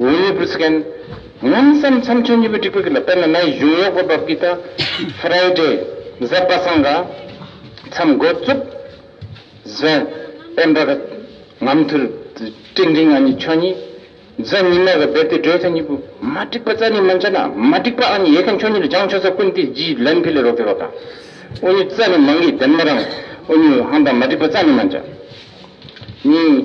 ངོས་ནས་བུ་སི་ཀན། ངམ་བསམ་མཚམས་ཆོས་གཉིས་པོའི་སྒྲིག་པ་ཀི་ལ་དཔེར་ན་ནའི་གཞུང་ཡོག་པོ་བབ་ཀི་ད། Friday། གཟའ་པ་སངས་ག། མཚམས་མགོ་བཙུག། གཟའ། དཔལ་འབར་ག། ངམ་ཐུར། སྤྲིན་རིང་ཨ་ནི་ཆོས་གཉིས། གཟའ་ཉི་མ་ག་བེར་ཏི་སྒྲོལ་ཚ་གཉིས་པོ། མ་སྒྲིག་པ་རྩ་ནི་མ་འཇལ་ན། མ་སྒྲིག་པ་ཨ་ནི་ཡེ་ག་མཆོག་གཉིས་ལ་སྦྱང་ཆོས་ས་ཀུན་ཏི་བརྗིད་ལན་ཕི་ལེ་རོག་ཏི་རོག་ཏ། ཨོ་ཉུ་རྩ་ནི་མ་ངེས་ལྡན་མ་རང། ཨོ་ཉུ་ཧང་དང་མ་སྒྲིག་པ་རྩ་ནི་མ་འཇལ། གཉིས།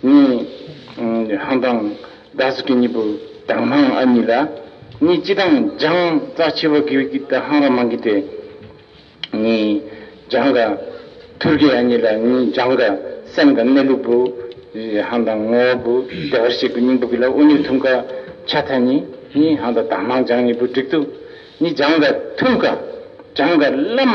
གཉིས། ཧང་དང་རྡ་ས་ཀི་གཉིས་པོ་དང་ཧང་ཨ་གཉིས་ལ་གཉིས་སྤྱི་དང་འཇང་རྩ་ཆེ་བ་གི་གི་དང་ཧང་ར་མང་གི་སྟེ་གཉིས། འཇང་ག་ཐུར་གི་ཨ་གཉིས་ལ་གཉིས་འཇང་ག་སེམས་དང་གནས་ལུགས་བུ། ཧང་དང་ངོ་བོ་བུ་བདེ་བར་གཤེགས་པའི་སྙིང་པོ་གི་ལ་ཨུ་ནི་ཐུམ་ག་ཆ་ཐ་གཉིས་གཉིས་ཧང་དང་དང་ཧང་འཇང་གཉིས་པོ་བསྒྲིག་ཏུ་གཉིས་འཇང་ག་ཐུམ་ག་འཇང་ག་བླ་མ།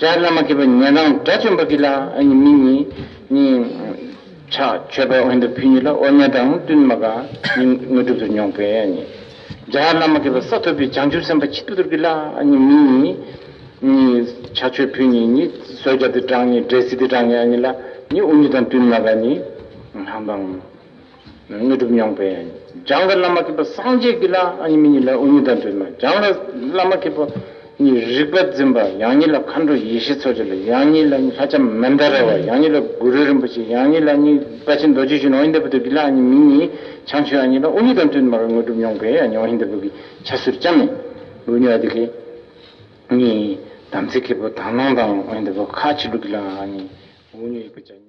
ལྕགས་བླ་མ་སྐྱེས་པ་ཉན་རང་དགྲ་བཅོམ་པ་གྱིས་ལ་གཉིས་མི་གཉིས། ཕྱག་མཆོད་པའི་དབང་དུ་ཕུལ་གཉིས་ལ་ཨོ་ཉལ་དང་བསྟུན་མ་ག་གཉིས་དངོས་གྲུབ་ཏུ་མྱོང་པས་གཉིས། ལྗགས་བླ་མ་སྐྱེས་པ་ས་ཐོབ་པའི་བྱང་ཆུབ་སེམས་དཔའ་ཆིག་ཐུབ་གྱིས་ལ་གཉིས་མི་གཉིས། ཕྱག་མཆོད་ཕུལ་གཉིས་གཉིས་བསོད་རྒྱ་ཏི་གྲངས་གཉིས་འབྲས་སི་ཏི་གྲངས་གཉིས་གཉིས་ལ་གཉིས་དབུ་མྱི་དང་བསྟུན་མ་ག་གཉིས། ལྷ་འབངས། དངོས་གྲུབ་མྱོང་པས་སྦྱངས་པའི་བླ་མ་མཁས་པ་སངས་རྒྱས་ཀྱི་ལྷ་ཨ་ཉི་མི་གཉིས་ལ་ཨུ་ཉི་དང་བྲལ་མ་སྦྱངས་པའི་བླ་མ་མཁས་པ་གཉིས་རིག་པ་འཛིན་པ་ཡང་གཉིས་ལ་མཁའ་འགྲོ་ཡེ་ཤེས་འཚོ་བྱེད་ལ་ཡང་གཉིས་ལ་ལྷ་ལྕམ་མན་དཱ་ར་བ་ཡང་གཉིས་ལ་གུ་རུ་རིན་པོ་ཆེ་ཡང་གཉིས་ལ་གཉིས་བཀའ་ཆེན་རྡོ་རྗེ་གཞོན་ནུ་ཨོ་ཉི་ཟླ་བུ་སྟོད་ཀྱི་ལྷ་ཨ་ཉི་མི་གཉིས་བྱང་ཆུབ་ཨ་ཉིས་ལ་ཨུ་ཉི་དང་བྲལ་མར་དངོས་གྲུབ་མྱོང་པས་ཨ་ཉི་ཨོ་ཉི་ཟླ་བུ་གི་ཕྱག་སོར་ལྕམ་མན་དཱུ་ནི་ཨ་དི་ཀའི་གཉིས་དམ་ཚིག་མཁས་པོ་དག་སྣང་དང་ཨོ་ཉི་ཟླ་བུ་ཁ་ཆེ་ལུགས་ཀྱི་ལྷ་ཨ་ཉིཨུ་ཉི་ཡིག་པ་བཅྭ་གཉིས།